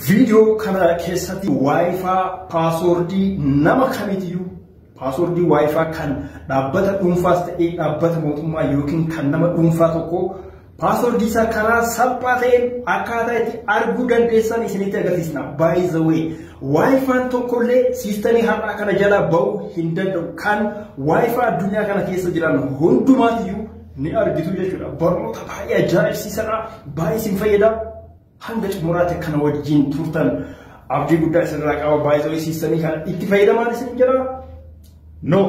Viidiyoo kana keessatti waayifaa paasoordii nama kamitiyyuu paasoordii waayifaa kan dhaabbata dhuunfaas ta'ee dhaabbata mootummaa yookiin kan nama dhuunfaa tokko paasoordii isaa karaa salphaa ta'een akkaataa itti arguu dandeessan isinitti agarsiisna. By the way, waayifaan tokkollee siistamii har'aa kana jalaa ba'uu hin danda'u. Kan waayifaa addunyaa kana keessa jiran hundumaatiyyuu ni argitu jechuudha. Barnoota baay'ee ajaa'ibsiisadha. Baay'ee isin fayyada. Hanga xumuraatti kana wajjin turtan abdii guddaa isinirraa qaba baay'ee siistanii kana itti fayyadamaan isin jira. No.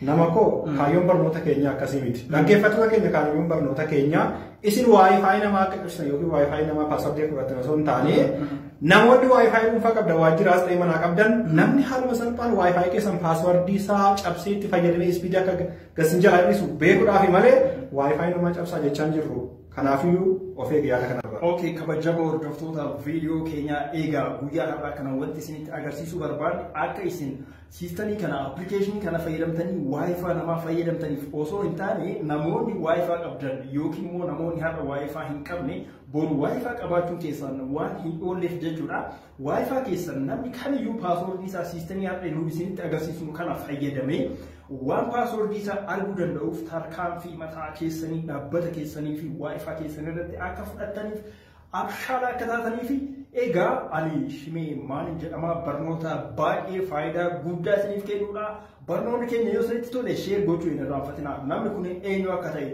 Nama koo kaayyoon barnoota keenya akkasii miti. Dhaggeeffattoota keenya kaayyoon barnoota keenya isin waayifaayi namaa akka ibsan yookiin waayifaayi namaa paaswordii fudhatan osoo hin taane namoonni waayifaayi dhuunfaa qabda waajjiraas ta'e manaa qabdan namni haaluma salphaan waayifaayi keessan paaswordii isaa cabsee itti fayyadamee ispiidii akka gasin jalaa hir'isu beekuudhaafi malee waayifaayi namaa cabsaa jechaa hin jirru. Kanaafiyyuu of eegi yaada kanarraa. Ok kabajamoo hordoftoota video keenyaa eegaa guyyaa har'aa kana wanti isinitti agarsiisuu barbaanne akka isin siistanii kana appilikeeshinii kana fayyadamtanii waayifaa namaa fayyadamtaniif osoo hin taane namoonni waayifaa qabdan yookiin immoo namoonni har'a waayifaa hin qabne boru waayifaa qabaachuun keessan waan hin oolleef jechuudha. Wi-Fi keessan namni kamiyyuu paaswoordii isaa siistemii har'a nuun isinitti agarsiisnu kana fayyadamee waan paaswoordii isaa arguu danda'uuf tarkaanfii mataa keessanii dhaabbata keessanii fi Wi-Fi keessan irratti akka fudhattaniif abshaala akka taatanii fi egaa ani shimee maalin jedhamaa barnoota baay'ee faayidaa guddaa isiniif kennuudha barnoonni keenya yoo isinitti tole sheer gochuu hin irraanfatinaa namni kun eenyu akka ta'e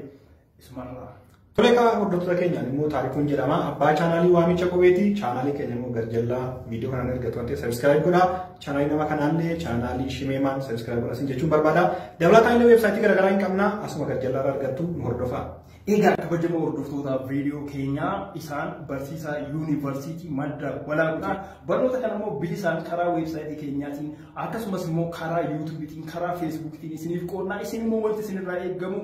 isumarraa. Tole egaa hordoftoota keenyaan immoo taarikuun jedhama. Abbaa chaanaalii waamicha qubeeti. Chaanaalii keenya immoo garjallaa viidiyoo kanaan erga turan ta'e sabiskiraayib godhaa. Chaanaalii nama kanaallee chaanaalii shimeemaan sabiskiraayib godhaa sin jechuun barbaada. Dabalataan illee weebsaayitii garaagaraa hin qabna. Asuma garjallaa irraa argattu nu hordofaa. Egaa kabajamoo hordoftoota viidiyoo keenyaa isaan barsiisaa yuunivarsiitii madda walaabudhaa barnoota kana immoo bilisaan karaa weebsaayitii keenyaatiin akkasumas immoo karaa yuutuubiitiin karaa feesbuukiitiin isiniif qoodnaa isin immoo wanti isinirraa eegamu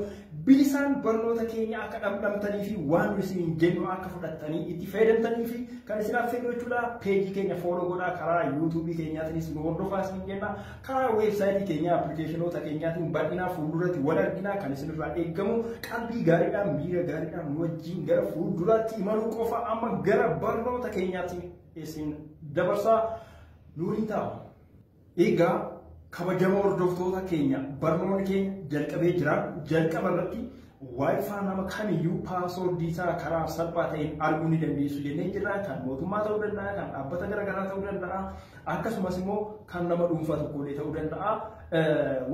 Bilisaan barnoota keenya akka dhamdhamtanii fi waan nu isiniin jennu akka fudhattanii itti fayyadamtanii fi kan isin affeerru jechuudha. Peejii keenya fooloo godhaa karaa yuutuubii keenyaatiinis nu hordofaa isiniin jenna. Karaa weebsaayitii keenyaa appilikeeshinoota keenyaatiin bal'inaa fuulduratti wal arginaa kan isinirraa eegamu qalbii gaariidhaan miira gaariidhaan nu wajjin gara fuulduraatti imaluu qofa amma gara barnoota keenyaatti isin dabarsaa nuuriin ta'a. Egaa kabajamoo hordoftoota keenya barnoonni keenya jalqabee jira. Jalqaba irratti Wi-Fi nama kamiyyuu paaswoordii isaa karaa salphaa ta'een arguu ni dandeessu jennee jirra. Kan mootummaa ta'uu danda'a, kan dhaabbata garaagaraa ta'uu danda'a, akkasumas immoo kan nama dhuunfaa tokkollee ta'uu danda'a.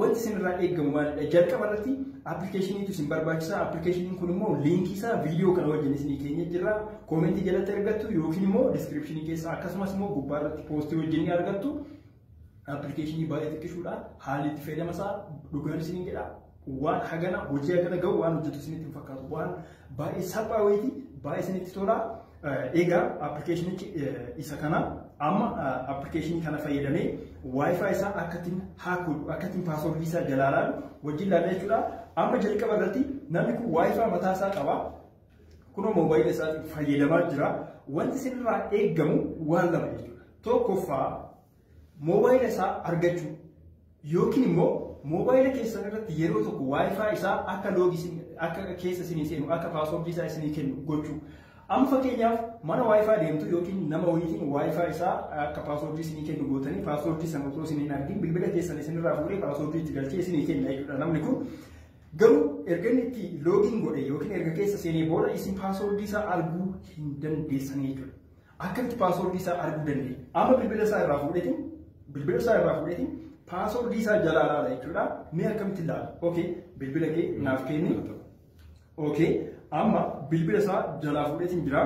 Wanti isinirraa eegamu maalidha? Jalqaba irratti appilikeeshiniitu isin barbaachisa. Appilikeeshiniin kun immoo liinkii isaa viidiyoo kana wajjin isinii keenye jirra. Koomentii jalatti argattu yookiin immoo diskiripshinii keessa akkasumas immoo gubbaa irratti poostii wajjin ni argattu. Appilikeeshinii baay'ee xiqqishuudha. Haalli itti fayyadama isaa dhugaan isiniin jedha. Waan hagana hojii hagana gahu waan hojjetu isinitti hin fakkaatu. Waan baay'ee salphaa wayiiti baay'ee isinitti tola. Egaa appilikeeshinichi isa kana amma appilikeeshinii kana fayyadamee waayifaa isaa akkattiin haakuu akkattiin paaswordii isaa jalaalaan wajjin laala jechuudha. Amma jalqaba irratti namni kun waayifaa mataa isaa qaba. Kunoo moobaayila isaatiin fayyadamaa jira. Wanti isinirraa eegamu waan lama jechuudha. Tokkoffaa moobaayila isaa argachuu yookiin immoo moobaayila keessan irratti yeroo tokko waayifaa isaa akka loogii akka keessa isinii seenu akka paaswordii isaa isinii kennu gochuu. Amma fakkeenyaaf mana waayifaa deemtu yookiin nama wayiitiin waayifaa isaa akka paaswordii isinii kennu gootanii paaswordii sana otoo isin hin argin bilbila keessan isinirraa fuudhee paaswordii itti galchee isinii kenna jechuudha namni kun. Garuu erga inni itti loogiin godhe yookiin erga keessa seenee booda isin paaswoordii isaa arguu hin dandeessan jechuudha. Akkamitti paaswoordii isaa arguu dandeenya? Amma bilbila isaa irraa fuudheetiin bilbila isaa irraa fuudheetiin paaswoordii isaa jalaa laala jechuudha. Mee akkamitti laala? Okay, bilbila kee naaf kenni. Okay, amma bilbila isaa jalaa fuudheetiin jira.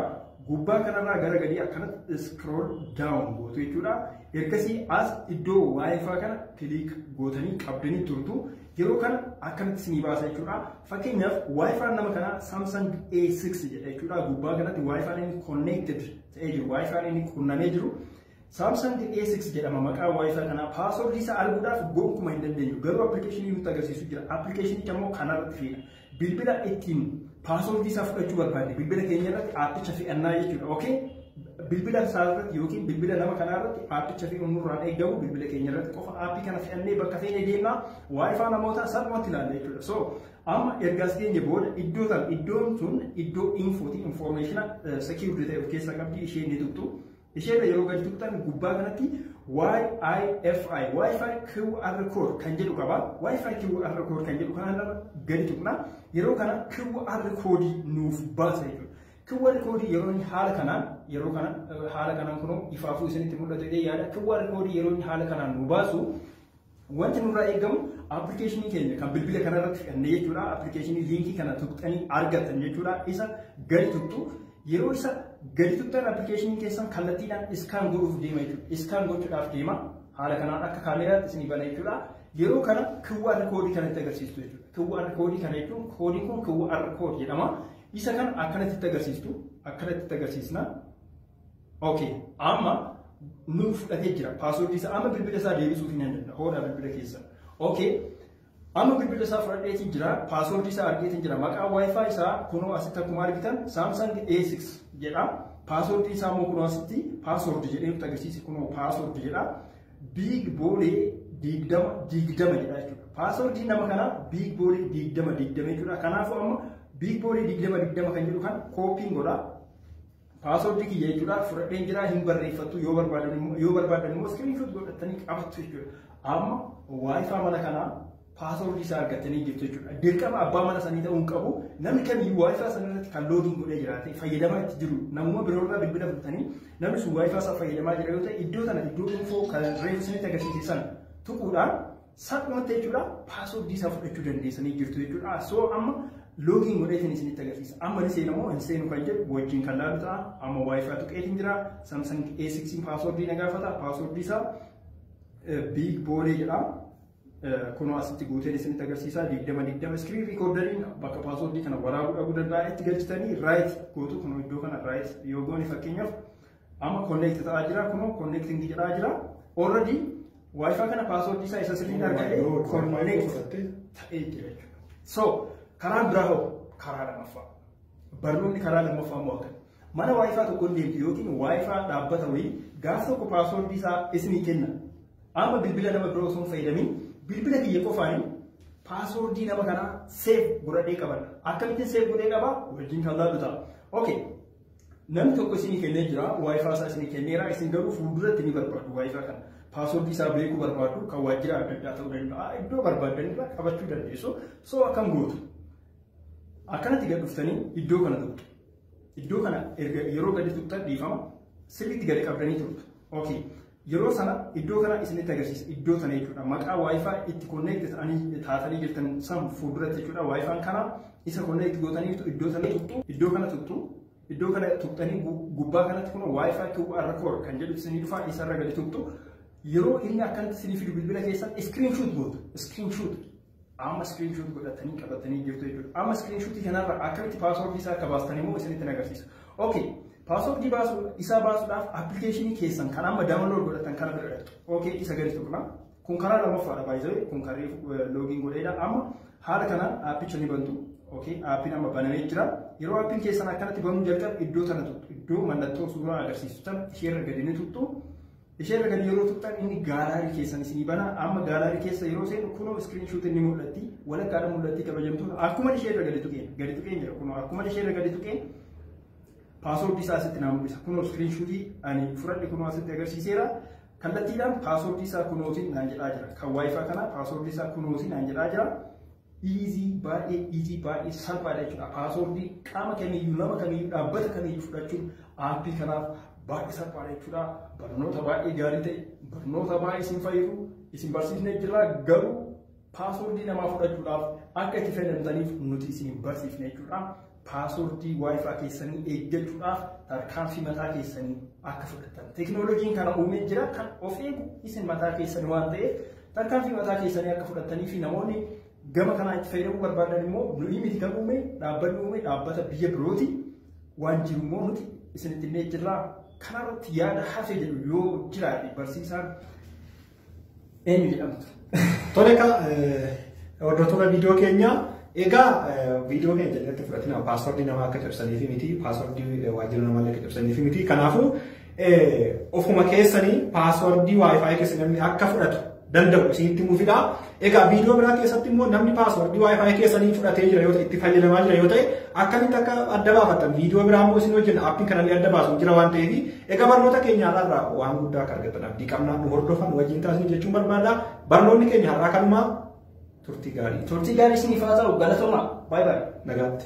Gubbaa kanarraa gara gadii akkanatti scroll down gootu jechuudha. Ergasii as iddoo wifi kana kiliik gootanii qabdanii turtu. Yeroo kana akkamitti isinii baasa jechuudha. Fakkeenyaaf waayifaan nama kanaa Samsung A6 jedha jechuudha. Gubbaa kanatti waayifaan inni connected ta'ee jiru, waayifaan inni qunnamee jiru. Samsung A6 jedhama maqaa waayifaa kanaa paaswordii isaa arguudhaaf gonkumaa hin dandeenyu. Garuu appilikeeshinii nutti agarsiisu jira. Appilikeeshinicha immoo kanarratti fiina. Bilbila ittiin paaswordii isaa fudhachuu barbaadne bilbila keenya irratti aappicha fe'annaa jechuudha. Okay? Bilbila isaa irratti yookiin bilbila nama kanaa irratti aappicha fe'uun nurraan eegamu bilbila keenya irratti qofa aappii kana fe'annee bakka feene deemnaa waayifaa namootaa salphumatti ilaalla jechuudha. So amma erga as geenye booda iddoo tan iddoon sun iddoo infooti infoormeeshina sekiurdi ta'e of keessaa qabdi ishee ni tuqxu. Ishee irra yeroo gadi tuqxan gubbaa kanatti YIFI, YIFI QR code kan jedhu qaba. YIFI QR code kan jedhu kana irra gadi tuqna. Yeroo kana QR code nuuf baasa jechuudha. QR code yeroo inni haala kanaan yeroo kana haala kanaan kunoo ifaafuu isinitti mul'atu jedhee yaada. QR code yeroo inni haala kanaan nu baasu Wanti nurraa eegamu appilikeeshinii keenya kan bilbila kana irratti fidhanne jechuudha. Appilikeeshinii liinkii kana tuqxanii argattan jechuudha. Isa gadi tuqxu yeroo isa gadi tuqxan appilikeeshinii keessan kallattiidhaan iskaan godhuuf deema jechuudha. Iskaan gochuudhaaf deema. Haala kanaan akka kaameeraatti isinii bana jechuudha. Yeroo kana QR koodii kana itti agarsiistu jechuudha. QR koodii kana jechuun koodiin kun QR koodii jedhama. Isa kana akkanatti itti agarsiistu akkanatti itti agarsiisna. ok amma nu fudhatee jira paaswordii isaa amma bilbila isaa deebisuuf hin dandeenye hoodhaa bilbila keessa ok amma bilbila isaa fudhadheetiin jira paaswordii isaa argeetiin jira maqaa wifi isaa kunoo asitti akkuma argitan samsung a6 jedha paaswordii isaa immoo kunoo asitti paaswordi jedhee nutti agarsiise kunoo paaswordi jedha biig boolee diigdama diigdama jedha jechuudha paaswordii nama kanaa biig boolee diigdama diigdama jechuudha kanaafuu amma biig boolee diigdama diigdama kan jedhu kan kooppiin godha Password kiyya jechuudha fudhadheen jira hin barreeffattu yoo barbaadan immoo yoo barbaadan immoo screenshot godhattanii qabattu jechuudha. Amma wifi mana kanaa password isaa argattanii jirtu jechuudha. Dirqama abbaa mana sanii ta'uu hin qabu. Namni kamiyyuu wifi sana irratti kan loogiin godhee jiraate fayyadamaa itti jiru. Namuma biroorraa bilbila fudhatanii namni sun wifi isaa fayyadamaa jira yoo ta'e iddoo sana iddoo info kan reefu isinitti agarsiise sana tuquudhaan Salphumatti jechuudha paaswordii isaa fudhachuu dandeessanii jirtu jechuudha. So amma loogiin godheetiin isinitti agarsiisa. Amma ni seena moo hin seenu kan jedhu wajjin kan laalu ta'a. Amma wifi tuqeetiin jira. Samsung A6 paaswordii na gaafata. Paaswordii isaa biig boolee jedha. Kunoo asitti guuteen isinitti agarsiisa. Digdama digdama iskiriin riikoordariin bakka paaswordii kana waraabuu dhabuu danda'a. Itti galchitanii raayit gootu. Kunoo iddoo kana raayit yoo goone fakkeenyaaf Amma connect ta'aa jira kunoo connecting jedhaa jira. Already wifi kana password isaa isa sirriin argate connect ta'ee jira jechuudha. So karaa biraa hoo karaa lamaffaa. Barnoonni karaa lamaffaa immoo akkana. Mana wifi tokko hin deemtu yookiin wifi dhaabbata wayii gaaf tokko password isaa isinii kenna. Amma bilbila nama biroo osoo hin fayyadamin bilbila kiyya qofaanii paaswordii nama kanaa seef godhadhee qabadha. Akkamittiin seef godhee qabaa? Wajjin kan laallu ta'a. Okay. Namni tokko isinii kennee jira, waayifaa isaa isinii kenneera, isin garuu fuulduratti ni barbaadu waayifaa kana. Paaswordii isaa beekuu barbaadu, kan waajjira adda addaa ta'uu danda'a, iddoo barbaadan irraa qabachuu dandeessu. So akkam gootu? Akkanatti gad dhuftanii iddoo kana tuqxu. Iddoo kana erga yeroo gadi tuqxan dhiifama sirriitti gadi qabdanii turtu. Okay. Yeroo sana iddoo kana isinitti agarsiisa. Iddoo sana jechuudha. Maqaa wifi itti connect ta'anii taatanii jirtan san fuulduratti jechuudha. Wifi kana isa connect gootaniirtu iddoo sana tuqxu. Iddoo kana tuqxu. Iddoo kana tuqxanii gubbaa kanatti kun wifi to QR code kan jedhu isinii dhufa isarra gadi tuqxu. Yeroo inni akkanatti isinii fidu bilbila keessan screenshot gootu. Screenshot. Amma screenshot godhatanii qabatanii jirtu jechuudha. Amma screenshot kanarra akkamitti password isaa akka baastan immoo isinitti agarsiisa. Okay. Password baasuu isaa baasuudhaaf application keessan kan amma download godhatan kana bira dhaqxu. Okay isa gadi tuqna. Kun karaa lammaffaadha baay'ee kun karee login godheedha amma haala kanaan appicha ni bantu. Okay appiin amma banamee jira. Yeroo appiin keessan akkanatti banuu jalqabu iddoo tana tuqxu. Iddoo mallattoo suuraa agarsiisu tana isheerra gadi ni tuqxu. Ishee irra gadi yeroo tuqxan inni gaalaarii keessan isinii bana. Amma gaalaarii keessa yeroo seenu kunoo iskiriin shuutiin ni mul'atti. Walakkaadha mul'atti kabajamtoota. Akkuma ishee irra gadi tuqeen gadi tuqeen jira kunoo akkuma ishee irra gadi tuqeen paaswoordii isaa asitti naa mul'isa. Kunoo iskiriin shuutii ani fudhadhe kunoo asitti agarsiiseera. Kallattiidhaan paaswoordii isaa kunootiin naan jedhaa jira. Kan waayifaa kana paaswoordii isaa kunootiin naan jedhaa jira. Easy baay'ee easy baay'ee salphaadha jechuudha. Paaswordii qaama kamiyyuu nama kamiyyuu dhaabbata kamiyyuu fudhachuun aappii kanaaf baay'ee salphaadha jechuudha. Barnoota baay'ee gaarii ta'e barnoota baay'ee isin fayyadu isin barsiisnee jirra garuu paaswordii namaa fudhachuudhaaf akka itti fayyadamtaniif nuti isin barsiifne jechuudha. Paaswordii Wi-Fi keessanii eeggachuudhaaf tarkaanfii mataa keessanii akka fudhattan. Teknooloojiin kana uumee jira kan of eegu isin mataa keessanii waan ta'eef tarkaanfii mataa keessanii akka fudhattanii fi namoonni gama kanaa itti fayyadamuu barbaadan immoo nuyi miti kan uume dhaabbanni uume dhaabbata biyya birooti waan jiru immoo nuti isinitti illee jirra. Kanarratti yaada hafe jedhu yoo jiraate barsiisaan Eenyu jedhamtu? Tole egaa hordoftoota viidiyoo keenyaa egaa viidiyoo keenya jalatti fudhatina paaswordii namaa akka cabsaniifi miti paaswordii waajjira namaa akka cabsaniifi miti kanaafuu ofuma keessanii paaswordii waayifaayi keessa namni akka fudhatu danda'u isinitti muufidha. Egaa viidiyoo biraa keessatti immoo namni paaswordii waayifaayi keessanii fudhatee jira yoo ta'e itti fayyadamaa jira yoo ta'e akkamitti akka adda baafatan viidiyoo biraa immoo isin hojjenna appiin kanallee adda baasu jira waan ta'eef Egaa barnoota keenya har'aa irraa waan guddaa akka argattan abdii qabna. Nu hordofaa nu wajjin taasisu jechuun barbaada. Barnoonni keenya har'aa kanumaa turtii gaarii. Turtii gaarii isiniif haa ta'u galatoomaa. Baay'ee baay'ee. Nagaatti.